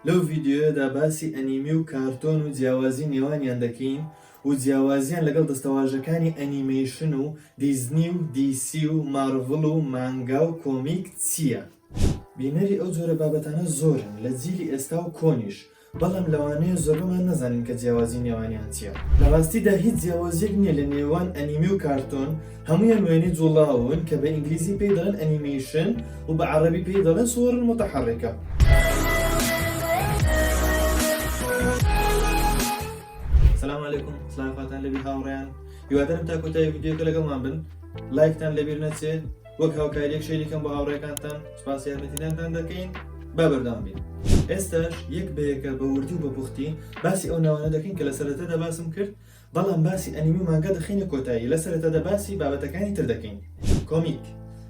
لەو ڤیدیۆیەدا باسی ئەنیمی و کارتۆن و جیاوازی نێوانیان دەکەین و جیاوازیان لەگەڵ دەستەواژەکانی ئەنیمەیشن و دیزنی و دی سی و مارڤڵ و مانگا و کۆمیک چییە؟ بینەری ئەو جۆرە بابەتانە زۆرن لە جیلی ئێستا و کۆنیش، بەڵام لەوانەیە زۆربەمان نەزانین کە جیاوازی نێوانیان چییە. لە ڕاستیدا هیچ جیاوازییەک نییە لە نێوان ئەنیمی و کارتۆن، هەموویان وێنەی جوڵاون کە بە ئینگلیزی پێی دەڵێن ئەنیمەیشن و بە عەڕەبی پێی دەڵێن سووەڕ موتەحەڕیکە. سلام علیکم سلام فاتان لەبی هاوڕیان هیوادارم تا کۆتایی ویدیۆکە لەگەڵمان بن لایکتان لەبیر نەچێ وەک هاوکاریەک شەریکەم بە هاوڕێکانتان سپاس یارمەتیدانتان دەکەین با بەردام بین ئێستاش یەک بەیەکە بە وردی و بە پوختی باسی ئەو ناوانە دەکەین کە لە سەرەتەدا باسم کرد بەڵام باسی ئەنیمی و مانگا دەخەینە کۆتایی، لە سەرەتادا باسی بابەتەکانی تر دەکەین. کۆمیک،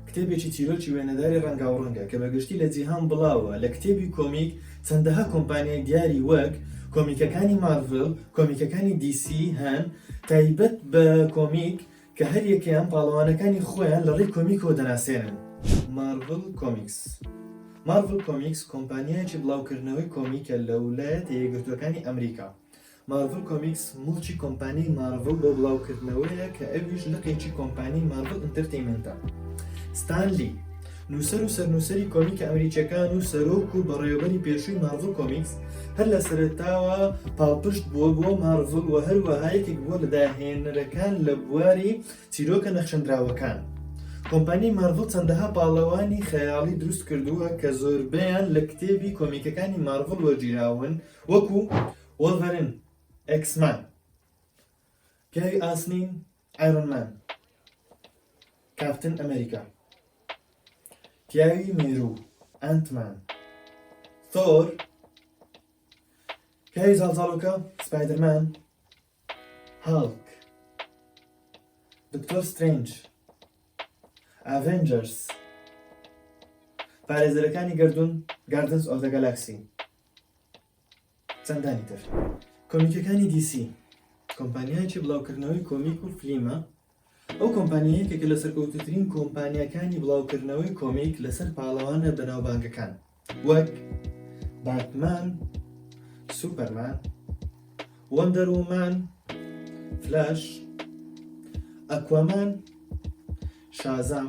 کتێبێکی چیرۆکی وێنەداری ڕەنگاوڕەنگە کە بە گشتی لە جیهان بڵاوە، لە کتێبی کۆمیک چەندەها کۆمپانیای دیاری وەک، کۆمیکەکانی مارڤڵ، کۆمیکەکانی دی سی، هەن، تایبەت بە کۆمیک کە هەر یەکەیان پاڵەوانەکانی خۆیان لە ڕێی کۆمیکەوە دەناسێنن. مارڤڵ کۆمیکس، Marvel Comics، کۆمپانیایەکی بڵاوکردنەوەی کۆمیکە لە ولایەتە یەکگرتووەکانی ئەمریکا، مارڤڵ کۆمیکس موڵکی کۆمپانیای مارڤڵ بۆ بڵاوکردنەوەیە کە ئەویش لقێکی کۆمپانیای مارڤڵ ئینتەرتەیمێنتە. ستان لی، نووسەر و سەرنووسەری کۆمیکە ئەمریکییەکان و سەرۆک و بەڕێوەبەری پێشووی مارڤڵ کۆمیکس، هەر لە سەرەتاوە پاڵپشت بووە بۆ مارڤڵ و هەروەها یەکێک بووە لە داهێنەرەکان لە بواری چیرۆکە نەخشێندراوەکان. کۆمپانیای مارڤڵ چەندەها پاڵەوانی خەیاڵی دروست کردووە کە زۆربەیان لە کتێبی کۆمیکەکانی مارڤڵ وەرگیراون وەکوو، وۆڵڤەرین، ئێکس مان، پیاوی ئاسنین، ئایرۆن مان، کاپتن ئەمەریکا، پیاوی مێرو، ئەنت مان، ثۆر، پیاوی زاڵزاڵۆکە، سپایدەر مان، هاڵک، دکتۆر سترێنج، ئاڤێنجەرس، پارێزەرەکانی گەردوون، گاردنس ئۆف دە گالاکسی. چەندانی تر کۆمیکەکانی دی سی کۆمپانیایەکی بڵاوکردنەوەی کۆمیک و فلیمە ئەو کۆمپانیایەکە کە لە سەرکەوتوترین کۆمپانیەکانی بڵاوکردنەوەی کۆمیک لەسەر پاڵەوانە بەناوبانگەکان وەک باتمان سوپەرمان وەندەرومان فلاش ئەکوامان شازام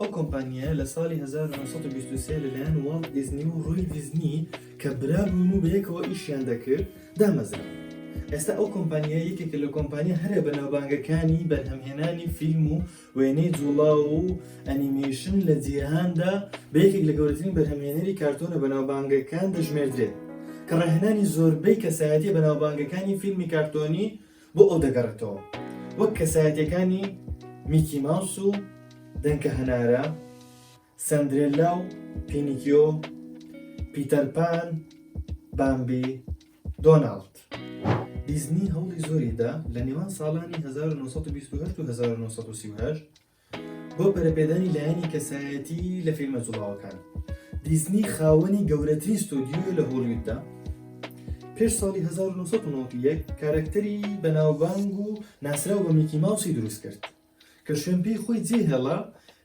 ئەو کۆمپانیایە لە ساڵی هەزار و نۆ سەد و بیست و سێ لەلایەن واڵت دیزنی و ڕۆی دیزنی کە برا بوون و بەیەکەوە ئیشیان دەکرد دامەزرا. ئێستا ئەو کۆمپانیای یەکێکە لە کۆمپانیا هەرە بەناوبانگەکانی بەرهەمهێنانی فیلم و وێنەی جوڵاو و ئەنیمەیشن لە جیهاندا بە یەکێک لە گەورەترین بەرهەمهێنەری کارتۆنە بەناوبانگەکان دەژمێردرێت کە ڕاهێنانی زۆربەی کەسایەتیە بەناوبانگەکانی فیلمی کارتۆنی بۆ ئەو دەگەڕێتەوە وەک کەسایەتیەکانی میکی ماوس و دەنکە هەنارە سەندرێلا و پینیکیۆ پیتەرپان بامبی دۆناڵد دیزنی هەوڵی زۆریدا لە نێوان ساڵانی 1920 و 1930 بۆ پەرەپێدانی لایەنی کەسایەتی لە فیلمە جوڵاوەکان، دیزنی خاوەنی گەورەترین ستۆدیۆیە لە هۆڵیوددا، پێش ساڵی هەزار و نۆ سەد و نەوەد و یەک کارەکتەری بەناوبانگ و ناسراو بە میکی ماوسی دروست کرد، کە شوێن پێی خۆی جێهێڵا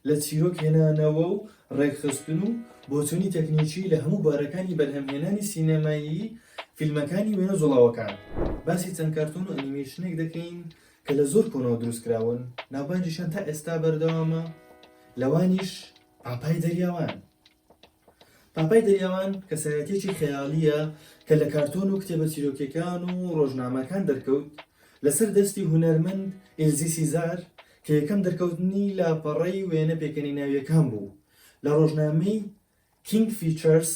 لە چیرۆک هێنانەوە و ڕێکخستن و بۆچوونی تەکنیکی لە هەموو بوارەکانی بەرهەمهێنانی سینەمایی فیلمەکانی وێنە جوڵاوەکان. باسی چەند کارتۆن و ئەنیمەیشنێک دەکەین کە لە زۆر کۆنەوە دروست کراون، ناوبانگیشیان تا ئێستا بەردەوامە، لەوانیش پاپای دەریاوان. پاپای دەریاوان کەسایەتیەکی خەیاڵییە کە لە کارتۆن و کتێبە چیرۆکیەکان و ڕۆژنامەکان دەرکەوت لەسەر دەستی هونەرمەند ئیلزی سیزار کە یەکەم دەرکەوتنی لاپەڕەی وێنە پێکەنیناویەکان بوو لە ڕۆژنامەی کینگ فیچەرس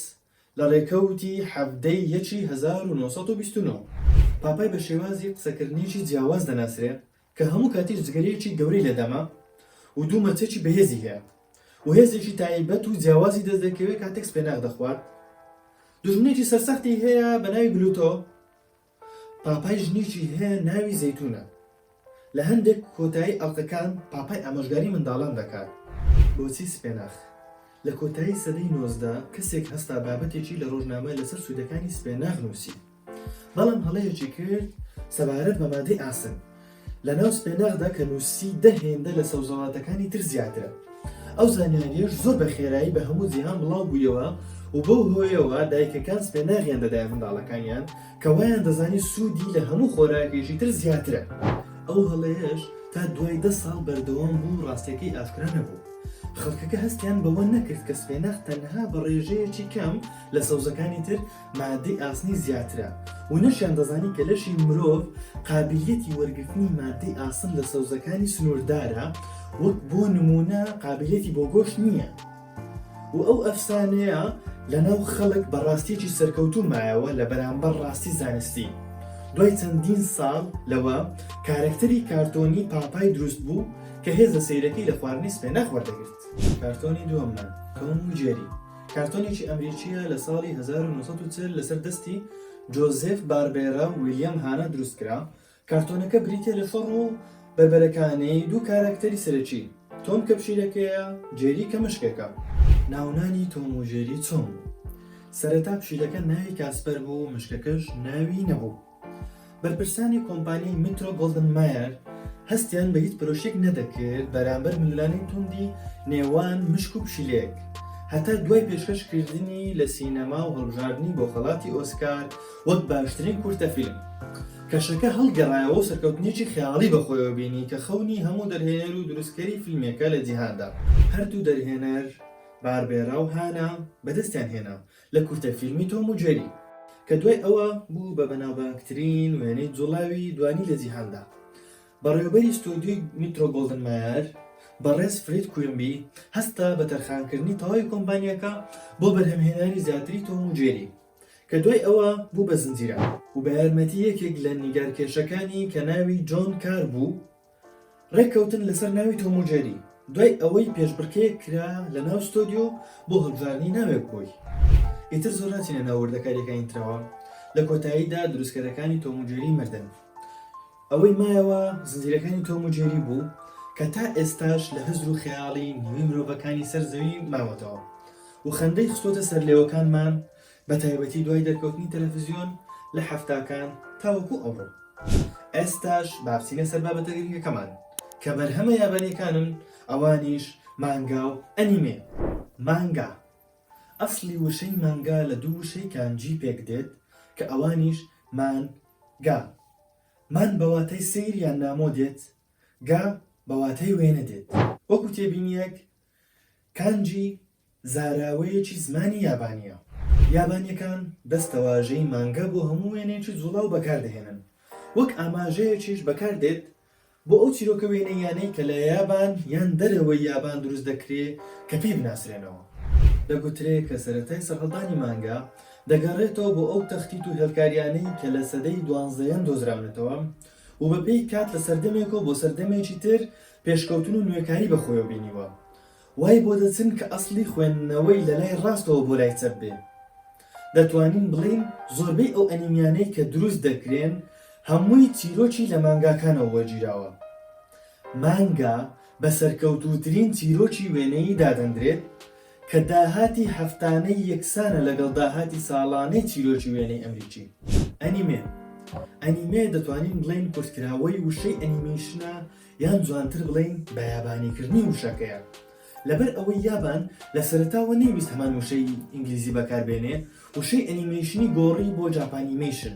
لە ڕێکەوتی حەڤدە ی یەکی هەزار و نۆ سەد و بیست و نۆ پاپای بە شێوازی قسەکردنێکی جیاواز دەناسرێ کە هەموو کاتیش جگەرەیەکی گەورەی لە دەمە و دوو مەچەکی بەهێزی هەیە و هێزێکی تایبەت و جیاوازی دەست دەکەوێ کاتێک سپێناخ دەخوات دوژمنێکی سەرسەختی هەیە بە ناوی بلوتۆ پاپای ژنیکی هەیە ناوی زەیتونە لە هەندێک کۆتایی ئەڵقەکان پاپای ئامۆژگاری منداڵان دەکات بۆچی سپێناخ؟ لە کۆتایی سەدەی نۆزدە کەسێک هەستا بابەتێکی لە ڕۆژنامە لەسەر سوودەکانی سپێناخ نووسی بەڵام هەڵەیەکی کرد سەبارەت بە مادەی ئاسن لە ناو سپێناخدا کە نووسی دە هێندە لە سەوزەواتەکانی تر زیاترە. ئەو زانیاریەش زۆر بە خێرایی بە هەموو جیهان بڵاو بوویەوە و بەو هۆیەوە دایکەکان سپێناغیان دەدایە منداڵەکانیان کە وایان دەزانی سوودی لە هەموو خۆراکێکی تر زیاترە. ئەو هەڵەیەش تا دوای دە ساڵ بەردەوام بوو و ڕاستیەکەی ئاشکرا نەبوو. خەڵکەکە هەستیان بەوە نەکرد کە سپێناخ تەنها بە ڕێژەیەکی کەم لە سەوزەکانی تر، مادەی ئاسنی زیاترە و نەشیان دەزانی کە لەشی مرۆڤ قابلیەتی وەرگرتنی مادەی ئاسن لە سەوزەکانی سنووردارە وەک بۆ نمونە قابلەتی بۆ گۆشت نییە و ئەو ئەفسانەیە لەناو خەڵک بە ڕاستیەکی سەرکەوتوو مایەوە لە بەرامبەر ڕاستی زانستی دوای چەندین ساڵ لەوە کارەکتەری کارتۆنی پاپای دروست بوو کە هێزە سیرەکەی لە خواردنی سپێنە خۆردەگرت کارتۆنی دووەممان تۆم و جێری کارتۆنێکی ئەمریکییە لە ساڵی هەزار و نۆ سەد و چل لەسەر دەستی جۆزێف باربێرا و ویلیام هانا دروست کرا، کارتۆنەکە بریتییە لە شەڕ و بەربەرەکانیی دوو کاراکتەری سەرەکی، تۆم کە پشیلەکەیە، جێری کە مشکێکە. ناونانی تۆم و جێری چۆن بوو؟ سەرەتا پشیلەکە ناوی کاسپەر بوو و مشکەکەش ناوی نەبوو. بەرپرسانی کۆمپانیای میترۆ گۆڵدن مایەر هەستیان بە هیچ پرۆشێک نەدەکرد بەرامبەر ملولانەی توندی نێوان مشک و پشیلەیەک هەتا دوای پێشکەشکردنی لە سینەما و هەڵبژاردنی بۆ خەڵاتی ئۆسکار وەک باشترین کورتە فیلم کەشەکە هەڵگەڕایەوە و سەرکەوتنێکی خەیاڵی بەخۆیەوە بینی کە خەونی هەموو دەرهێنەر و دروستکەری فیلمێکە لە جیهاندا هەردوو دەرهێنەر باربێرا و هانا بەدەستیان هێنا لە کورتە فیلمی تۆم و جێری کە دوای ئەوە بوو بە بەناوبانگترین وێنەی جوڵاوی دوانی لە جیهاندا. بەڕێوەبەری ستۆدیۆی میترۆ گۆڵدن مایەر، بەڕێز فرید کویمبی هەستا بە تەرخانکردنی تەواوی کۆمپانیاکە بۆ بەرهەمهێنانی زیاتری تۆم و جێری کە دوای ئەوە بوو بە زنجیرە. و بە یارمەتی یەکێک لە نیگارکێشەکانی کە ناوی جۆن کار بوو ڕێککەوتن لەسەر ناوی تۆم و جێری دوای ئەوەی پێشبڕکێیەک کرا لە ناو ستۆدیۆ بۆ هەڵبژاردنی ناوێک بۆی ئیتر زۆر ناچینە ناو وردەکاریەکانی ترەوە لە کۆتاییدا دروستکەرەکانی تۆم و جێری مردن ئەوەی مایەوە زنجیرەکانی تۆم و جێری بوو کە تا ئێستاش لە هزر و خەیاڵی نیوەی مرۆڤەکانی سەر زەوی ماوەتەوە و خەندەی خستۆتە سەرلێوەکانمان بەتایبەتی دوای دەرکەوتنی تەلەفزیۆن لە حەفتاکان تاوەکو ئەمڕۆ. ئێستاش با بچینە سەر بابەتە گرنگەکەمان کە بەرهەمە یابانیەکانن ئەوانیش مانگا و ئەنیمێ. مانگا، ئەسڵی وشەی مانگا لە دوو وشەی کانجی پێک دێت کە ئەوانیش مان گا، مان بە واتای سەیر یان نامۆ دێت، گا بە واتای وێنە دێت. وەکو تێبینیەک کانجی زاراوەیەکی زمانی یابانییە. یابانییەکان دەستەواژەی مانگا بۆ هەموو وێنەیەکی جووڵاو بەکار دەهێنن. وەک ئاماژەیەکیش بەکار دێت بۆ ئەو چیرۆکە وێنەییانەی کە لە یابان یان دەرەوەی یابان دروست دەکرێ کە پێی بناسرێنەوە. دەگوترێ کە سەرەتای سەرهەڵدانی مانگا دەگەڕێتەوە بۆ ئەو تەختیت و هێڵکارییانەی کە لە سەدەی دوانزەیەم دۆزراونەتەوە و بەپێی کات لە سەردەمێکەوە بۆ سەردەمێکی تر پێشکەوتن و نوێکاری بە خۆیەوە بینیوە وای بۆ دەچن کە ئەسڵی خوێندنەوەی لە لای ڕاستەوە بۆ لای چەپ بێ. دەتوانین بڵێین زۆربەی ئەو ئەنیمیانەی کە دروست دەکرێن هەمووی چیرۆکی لە مانگاکانەوە وەرگیراوە. مانگا بە سەرکەوتووترین چیرۆکی وێنەیی دادەندرێت کە داهاتی هەفتانەی یەکسانە لەگەڵ داهاتی ساڵانەی چیرۆکی وێنەی ئەمریکی. ئەنیمێ ئەنیمێ دەتوانین بڵێین کورتکراوەی وشەی ئەنیمەیشنە یان جوانتر بڵێین بەیابانیکردنی وشەکەیە، لەبەر ئەوەی یابان لە سەرەتاوە نەیویست هەمان وشەی ئینگلیزی بەکاربێنێ، وشەی ئەنیمەیشنی گۆڕی بۆ جاپانیمەیشن،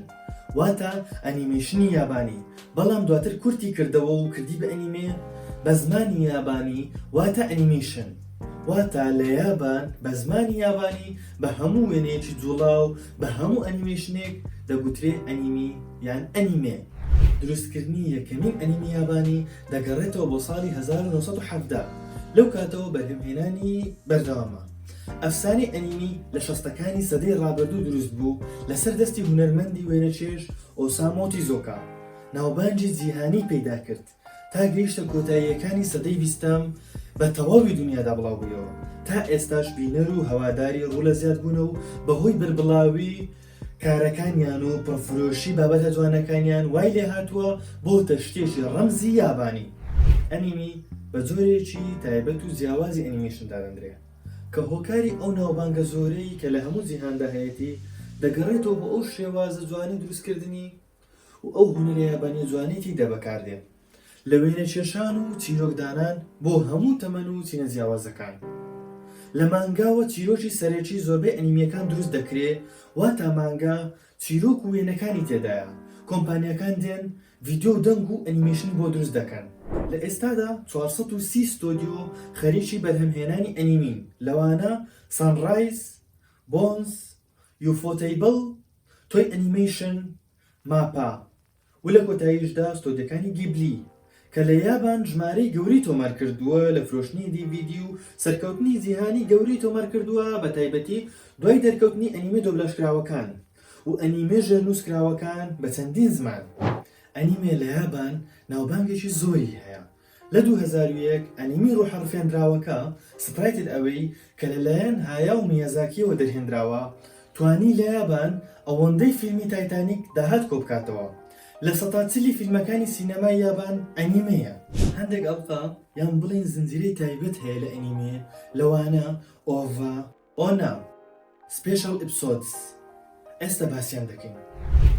واتە ئەنیمەیشنی یابانی، بەڵام دواتر کورتی کردەوە و کردی بە ئەنیمێ بە زمانی یابانی، واتە ئەنیمەیشن. واتە لە یابان بە زمانی یابانی بە هەموو وێنەیەکی جووڵاو، بە هەموو ئەنیمەیشنێک دەگوترێ ئەنیمی. یان ئەنیمێ، دروستکردنی یەکەمین ئەنیمی یابانی دەگەڕێتەوە بۆ ساڵی هەزار و نۆ سەد و حەڤدە، لەو کاتەوە بەرهەمهێنانی بەردەوامە. ئەفسانەی ئەنیمی لە شەستەکانی سەدەی ڕابردوو دروست بوو لەسەر دەستی هونەرمەندی وێنەچێژ ئۆسامۆ تیزۆکا، ناوبانگی جیهانی پەیدا کرد. تا گەیشتە کۆتاییەکانی سەدەی بیستەم بە تەواوی دنیادا بڵاو بوویەوە تا ئێستاش بینەر و هەواداری ڕوو لە زیاد بوونە و بەهۆی بەربڵاوی کارەکانیان و پڕفرۆشی بابەتە جوانەکانیان وای لێ هاتووە بۆ تەشتێکی ڕەمزی یابانی ئەنیمی بە جۆرێکی تایبەت و جیاوازی ئەنیمیشن دادەندرێ کە هۆکاری ئەو ناوبانگە زۆرەی کە لە هەموو جیهاندا هەیەتی دەگەڕێتەوە بۆ ئەو شێوازە جوانی دروستکردنی و ئەو هونەرەیە بە نوجوانیکی دە بەکار دێن لە وێنە کێشان و چیرۆک دانان بۆ هەموو تەمەن و چینە جیاوازەکان لە مانگاوە چیرۆکی سەرەکی زۆربەی ئەنیمیەکان دروست دەکرێ واتا مانگا چیرۆک و وێنەکانی تێدایە کۆمپانیاکان دێن ڤیدیۆ و دەنگ و ئەنیمەیشن بۆ دروست دەکەن لە ئێستادا چوار سەد و سی ستۆدیۆ خەریکی بەرهەم هێنانی ئەنیمین لەوانە سانڕایز بۆنز یوفۆتەیبڵ، تۆی ئەنیمەیشن، ماپا، و لە کۆتاییشدا ستۆدیۆکانی گیبلی، کە لە یابان ژمارەی گەورەی تۆمارکردووە لە فرۆشتنی دی ڤی دی و سەرکەوتنی جیهانی گەورەی تۆمارکردووە بە تایبەتی دوای دەرکەوتنی ئەنیمێ دۆبلاژکراوەکان و ئەنیمێ ژێرنووسکراوەکان بە چەندین زمان. ئەنیمێ لە یابان ناوبانگێکی زۆری هەیە. لە دوو هەزار و یەک ئەنیمی ڕۆحە ڕفێندراوەکە، Sprited Away، کە لەلایەن هایاو میازاکییەوە دەرهێندراوە، توانی لە یابان ئەوەندەی فیلمی تایتانیک داهات کۆبکاتەوە. لە سەتا چلی فیلمەکانی سینەمای یابان ئەنیمێیە. هەندێک ئەڵقە یان بڵێین زنجیرەی تایبەت هەیە لە ئەنیمێ، لەوانە، OVA، ئۆ نا سپێشڵ ئیپسۆدس ئێستا باسیان دەکەین.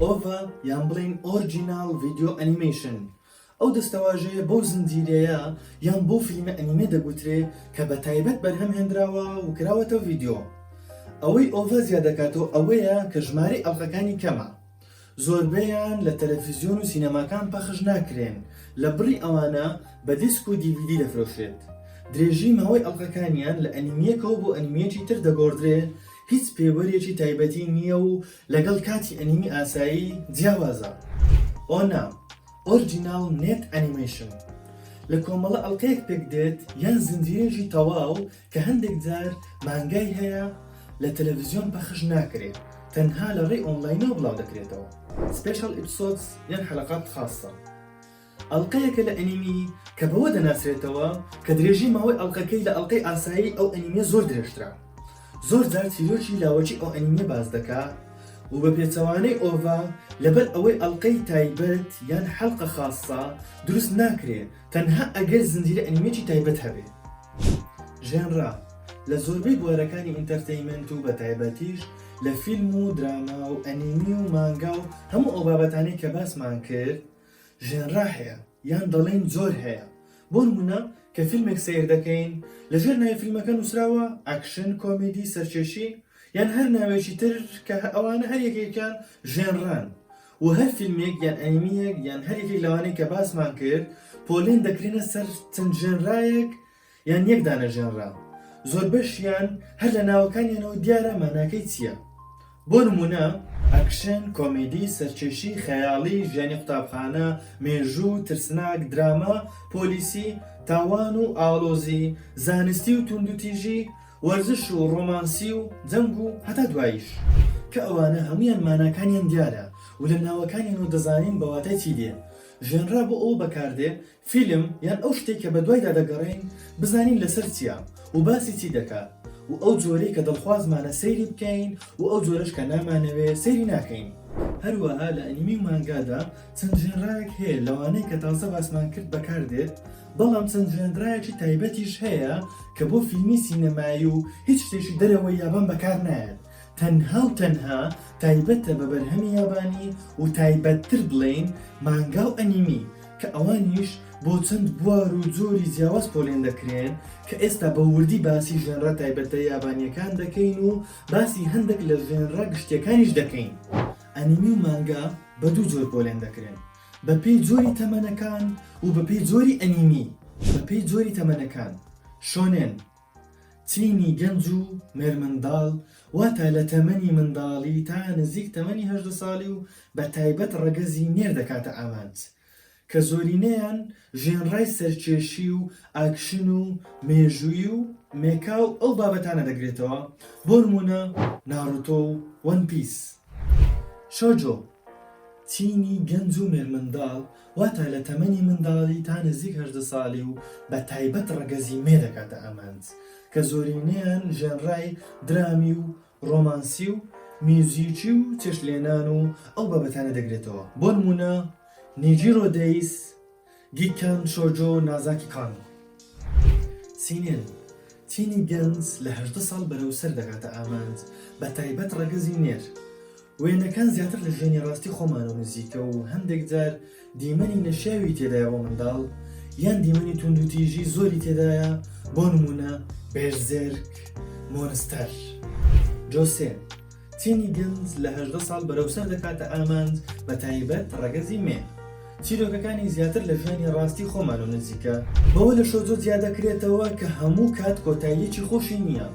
ئۆڤا یان بڵێین ئۆرجیناڵ ڤیدیۆ ئەنیمەیشن ئەو دەستەواژەیە بەو زنجیرەیە یان بۆ فلیمە ئەنیمێ دەگوترێ کە بە تایبەت بەرهەم هێنراوە و کراوەتە ڤیدیۆ ئەوەی ئۆڤا زیادەکاتەوە ئەوەیە کە ژمارەی ئەڵقەکانی کەمە زۆربەیان لە تەلەفیزیۆن و سینەماکان پەخش ناکرێن، لە بڕی ئەوانە بە دیسک و دی ڤی دی دەفرۆشرێت. درێژی ماوەی ئەڵقەکانیان لە ئەنیمییەکەوە بۆ ئەنیمییەکی تر دەگۆڕدرێ، هیچ پێوەرێکی تایبەتی نییە و لەگەڵ کاتی ئەنیمی ئاسایی جیاوازە. ئۆنا، Original Net Animation، لە کۆمەڵە ئەڵقەیەک پێکدێت یان زنجیرەیەکی تەواو کە هەندێک جار مانگای هەیە لە تەلەڤزیۆن پەخش ناکرێت تەنها لە ڕێی ئۆنڵاینەوە بڵاو دەکرێتەوە Special Episodes یان حەلەقات خاسە ئەڵقەیەکە لە ئەنیمی کە بەوە دەناسرێتەوە کە درێژی ماوەی ئەڵقەکەی لە ئەڵقەی ئاسایی ئەو ئەنیمیە زۆر درێژترە زۆر جار چیرۆکی لاوەکی ئەو ئەنیمیە باس دەکا و بە پێچەوانەی ئۆڤا لەبەر ئەوەی ئەڵقەی تایبەت یان حەلقە خاسە دروست ناکرێت تەنها ئەگەر زنجیرە ئەنیمێکی تایبەت هەبێ. ژێنرا، لە زۆربەی بوارەکانی ئینتەرتەیمێنت و بەتایبەتیش لە فیلم و دراما و ئەنیمی و مانگا و هەموو ئەو بابەتانەی کە باسمان کرد ژێنرا هەیە یان دەڵێین جۆر هەیە بۆ نموونە کە فیلمێک سەیر دەکەین لەژێر ناوی فیلمەکە نووسراوە ئەکشن کۆمیدی سەرکێشی یان هەر ناوێکی تر کە ئەوانە هەر یەکێکیان ژێنران و هەر فیلمێک یان ئەنیمیەک یان هەر یەکێک لەوانەی کە باسمان کرد پۆلێن دەکرێنە سەر چەند ژێنرایەک یان یەک دانە ژێنرا زۆربەشیان هەر لە ناوەکانیانەوە دیارە ماناکەی چییە بۆ نمونە ئەکشن کۆمیدی سەرکێشی خەیاڵی ژیانی قوتابخانە مێژوو ترسناک دراما پۆلیسی تاوان و ئاڵۆزی زانستی و توندوتیژی وەرزش و ڕۆمانسی و جەنگ و هەتا دواییش. کە ئەوانە هەموویان ماناکانیان دیارە و لە ناوەکانیان و دەزانین بە واتای چی دێ. ژەنرا بۆ ئەوە بەکار دێ فیلم یان ئەو شتەی کە بە دوایدا دەگەڕێین بزانین لە سەر چییە و باسی چی دەکا و ئەو جۆرەی کە دڵخوازمانە سەیری بکەین و ئەو جۆرەش کە نامانەوێ سەیری ناکەین. هەروەها لە ئەنیمی و مانگادا چەند ژەنراێک هەیە لەوانەی کە تازە باسمان کرد بەکار دێت بەڵام چەند جوێنرایەکی تایبەتیش هەیە کە بۆ فیلمی سینەمایی و هیچ شتێکی دەرەوەی یابان بەکار نایەت، تەنها و تەنها تایبەتە بە بەرهەمی یابانی و تایبەتتر بڵێین مانگا و ئەنیمی کە ئەوانیش بۆ چەند بوار و جۆری جیاواز پۆلێن دەکرێن کە ئێستا بە وردی باسی ژێنرا تایبەتە یابانیەکان دەکەین و باسی هەندێک لە ژێنرا گشتیەکانیش دەکەین. ئەنیمی و مانگا بە دوو جۆر پۆلێن دەکرێن، بە پێی جۆری تەمەنەکان و بە پێی جۆری ئەنیمی بە پێی جۆری تەمەنەکان شۆنێن تینی گەنج و مێرمنداڵ واتە لە تەمەنی منداڵی تا نزیک تەمەنی هەژدە ساڵی و بە تایبەت ڕەگەزی نێر دەکاتە ئامانج کە زۆرینەیان ژێنڕای سەرکێشی و ئاکشن و مێژووی و مێکا و ئەو بابەتانە دەگرێتەوە بۆ نموونە ناڕۆتۆ و وەن پیس شۆجۆ. تینی گەنج و مێرمنداڵ واتا لە تەمەنی منداڵی تا نزیک هەژدە ساڵی و بە تایبەت ڕەگەزی مێ دەکاتە ئامانج کە زۆرینەیان ژێنڕای درامی و ڕۆمانسی و میوزیکی و چێشتلێنان و ئەو بابەتانە دەگرێتەوە بۆ نموونە نیجیرۆ دەیس گیکان شۆجۆ نازاکی کان سینێن تینی گەنج لە هەژدە ساڵ بەرەو سەر دەگاتە ئامانج بە تایبەت ڕەگەزی نێر. وێنەکان زیاتر لە ژیانی ڕاستی خۆمانەوە نزیکە و هەندێک جار دیمەنی نەشیاوی تێدایە بۆ منداڵ یان دیمەنی توندوتیژی زۆری تێدایە بۆ نمونە بێرزێرک مۆنستەر جۆسێ تینی گلز لە هەژدە ساڵ بەرەوسەر دەکاتە ئامانج بە تایبەت ڕەگەزی مێ. چیرۆکەکانی زیاتر لە ژیانی ڕاستی خۆمان و نزیکە. بەوە لە شۆزۆ جیا دەکرێتەوە کە هەموو کات کۆتاییەکی خۆشی نییە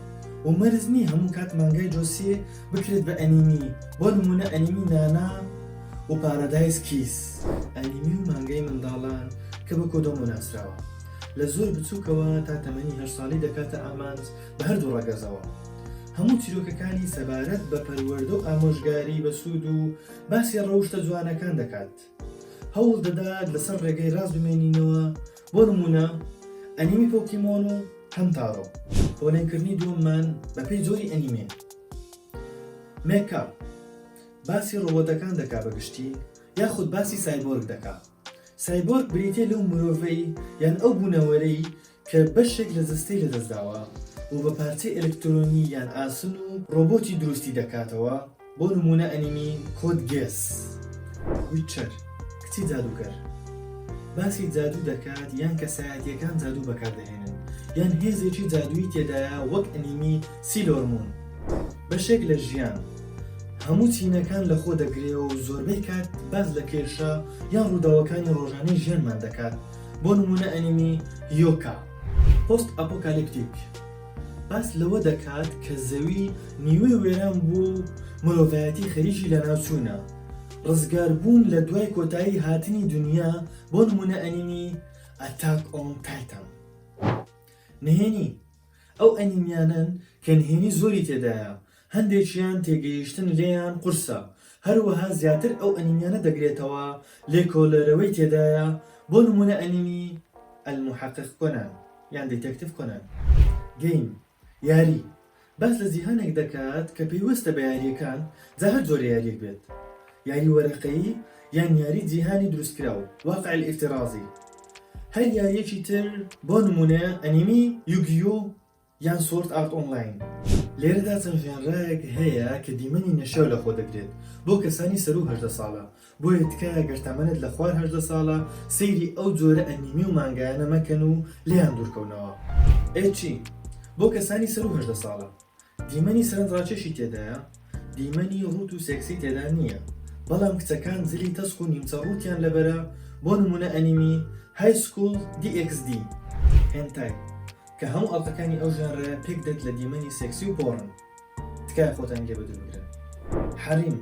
و مەرج نییە هەموو کات مانگای جۆسیێ بکرێت بە ئەنیمی، بۆ نموونە ئەنیمی نانا و پارادایس کیس. ئەنیمی و مانگای منداڵان کە بە کۆدۆمۆ ناسراوە، لە زۆر بچووکەوە تا تەمەنی هەشت ساڵی دەکاتە ئامانج، بە هەردوو ڕەگەزەوە. هەموو چیرۆکەکانی سەبارەت بە پەروەردە و ئامۆژگاری بەسوود و باسی ڕەوشتە جوانەکان دەکات. هەوڵ دەدات لەسەر ڕێگەی ڕاست بمێنینەوە، بۆ نموونە ئەنیمی پۆکیمۆن و هەمتارۆ. پۆلێنکردنی دووەممان بەپێی جۆری ئەنیمێ، مێکا، باسی ڕۆبۆتەکان دەکات بە گشتی یاخود باسی سایبۆرگ دەکات. سایبۆرگ بریتییە لەو مرۆڤەی یان ئەو بوونەوەرەی کە بەشێک لە جەستەی لەدەستداوە و بە پارچەی ئەلکترۆنی یان ئاسن و ڕۆبۆتی دروستی دەکاتەوە، بۆ نموونە ئەنیمی کۆد گێس، The Witcher، کچی جادووکەر باسی جادوو دەکات یان کەسایەتییەکان جادوو بەکاردەهێنن یان هێزێکی جادوویی تێدایە وەک ئەنیمی Sailor Moon بەشێک لە ژیان هەموو چینەکان لەخۆدەگرێ و زۆربەی کات باس لە کێشە یان ڕووداوەکانی ڕۆژانەی ژیانمان دەکات. بۆ نموونە ئەنیمی یۆکا پۆست ئەپۆکالیپتیک باس لەوە دەکات کە زەوی نیوەی وێران بوو و مرۆڤایەتی خەریکی لەناوچوونە ڕزگاربوون لە دوای کۆتایی هاتنی دونیا بۆ نموونە ئەنیمی ئەتاک ئۆن تایتان نهێنی ئەو ئەنیمیانەن کە نهێنی زۆری تێدایە هەندێکیان تێگەیشتن لێیان قورسە، هەروەها زیاتر ئەو ئەنیمیانە دەگرێتەوە لێکۆلەرەوەی تێدایە، بۆ نموونە ئەنیمی، المحقق کۆنان، یان دیتێکتیڤ کۆنان. گەیم، یاری، باس لە جیهانێک دەکات کە پەیوەستە بە یارییەکان، جا هەر جۆرە یارییەک بێت، یاری وەرەقەیی یان یاری جیهانی دروستکراو، واقع الافتراضی. هەر یارییەکی تر، بۆ نموونە ئەنیمی، یوگیو، یان سۆرد ئارت ئۆنلاین. لێرەدا چەند ژانرایەک هەیە کە دیمەنی نەشیاو لەخۆ دەگرێت بۆ کەسانی سەروو هەژدە ساڵە، بۆیە تکایە گەر تەمەنت لە خوار هەژدە ساڵە سەیری ئەو جۆرە ئەنیمی و مانگایانە مەکەن و لێیان دوورکەونەوە. ئێچی، بۆ کەسانی سەروو هەژدە ساڵە، دیمەنی سەرنجڕاکێشی تێدایە، دیمەنی ڕووت و سێکسی تێدا نییە، بەڵام کچەکان جلی تەسک و نیمچە ڕووتیان لەبەرە، بۆ نموونە ئەنیمی، High School DxD. هێنتای، کە هەموو ئەڵقەکانی ئەو ژانرە پێک دێت لە دیمەنی سێکسی و پۆڕن تکایە خۆتانی لێ بەدوور بگرن حەریم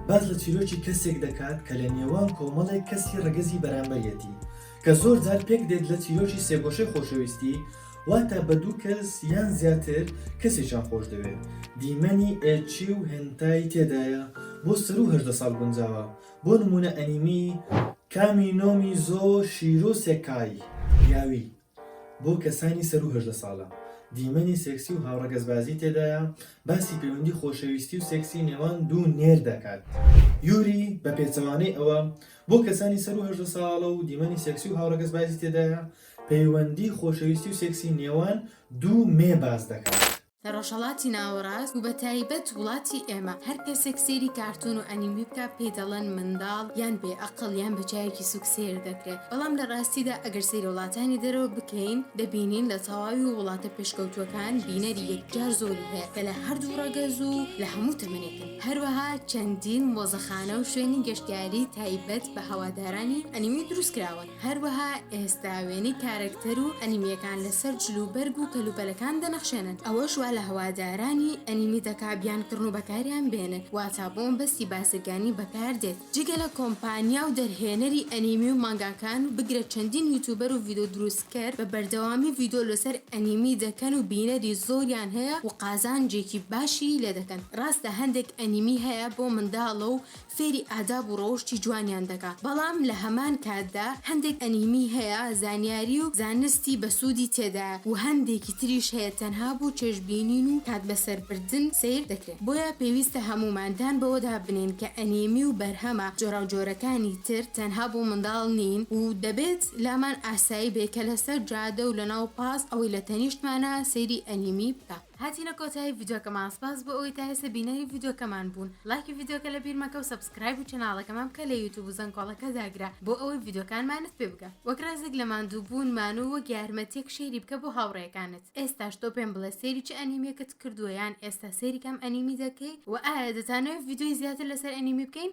باس لە چیرۆکی کەسێک دەکات کە لە نێوان کۆمەڵێک کەسی ڕەگەزی بەرامبەریەتی کە زۆر جار پێک دێت لە چیرۆکی سێگۆشەی خۆشەویستی واتە بە دوو کەس یان زیاتر کەسێکیان خۆش دەوێت دیمەنی ئێچی و هێنتای تێدایە بۆ سەروو هەژدە ساڵ گونجاوە بۆ نموونە ئەنیمی کامی نۆمی زۆ شیرۆ سێکای یاوی بۆ کەسانی سەروو هەژدە ساڵە، دیمەنی سێکسی و هاوڕەگەزبازی تێدایە، باسی پەیوەندی خۆشەویستی و سێکسی نێوان دوو نێر دەکات. یوری، بە پێچەوانەی ئەوە، بۆ کەسانی سەروو هەژدە ساڵە و دیمەنی سێکسی و هاوڕەگەزبازی تێدایە، پەیوەندی خۆشەویستی و سێکسی نێوان دوو مێ باس دەکات. لە ڕۆژهەڵاتی ناوەڕاست و بە تایبەت وڵاتی ئێمە هەر کەسێک سەیری کارتون و ئەنیمی بکا پێی دەڵێن منداڵ یان بێ ئەقڵ یان بە چاوێکی سوک سەیر دەکرێ بەڵام لە ڕاستیدا ئەگەر سەیری وڵاتانی دەرەوە بکەین دەبینین لە تەواوی ووڵاتە پێشکەوتووەکان بینەری یەکجار زۆری هەیە کە لە هەردوو ڕەگەز و لە هەموو تەمەنێکن هەروەها چەندین مۆزەخانە و شوێنی گەشتیاری تایبەت بە هەوادارانی ئەنیمی دروست کراون. هەروەها ئێستا وێنەی کارەکتەر و ئەنیمیەکان لەسەر جل و بەرگ و کەلوپەلەکان دەنەخشێنن ئەوەش وا لە هەوادارانی ئەنیمی دەکا بیان کڕن و بەکاریان بێنن واتا بۆ مەبەستی بازرگانی بەکار دێت جگە لە کۆمپانیا و دەرهێنەری ئەنیمی و مانگاکان و بگرە چەندین یوتوبەر و ڤیدۆ دروستکەر بە بەردەوامی ڤیدۆ لەسەر ئەنیمی دەکەن و بینەری زۆریان هەیە و قازانجێکی باشی لێ دەکەن ڕاستە هەندێک ئەنیمی هەیە بۆ منداڵە و فێری ئاداب و ڕەوشتی جوانیان دەکا بەڵام لە هەمان کاتدا هەندێک ئەنیمی هەیە زانیاری و زانستی بەسوودی تێدایە و هەندێکی تریش هەیە تەنها بۆ چێژ بینین و کات بەسەر بردن سەیر دەکرێن بۆیە پێویستە هەموومان دان بەوەدا بنێین کە ئەنیمی و بەرهەمە جۆراوجۆرەکانی تر تەنها بۆ منداڵ نین و دەبێت لامان ئاسایی بێ کە لەسەر جادە و لەناو پاس ئەوەی لە تەنیشتمانە سەیری ئەنیمی بکا. هاتینە کۆتایی ڤیدۆکەمان سپاس بۆ ئەوەی تا ئێستا بینەری ڤیدۆکەمان بوون لایکی ڤیدۆکە لە بیر مەکەو سەبسکرایب و چەناڵەکەمان بکە لە یوتوب و زەنگۆڵەکە داگرە بۆ ئەوەی ڤیدۆکانمانت پێ بگا وەک ڕێزێک لە ماندوو بوون مان و وەک یارمەتیەک شەیری بکە بۆ هاوڕێکانت ئێستاش تۆ پێم بڵێ سێری چ ئەنیمیەکت کردووە یان ئێستا سێری کام ئەنیمی دەکەی وە ئایا دەتانەوێ ڤیدۆی زیاتر لەسەر ئەنیمی بکەین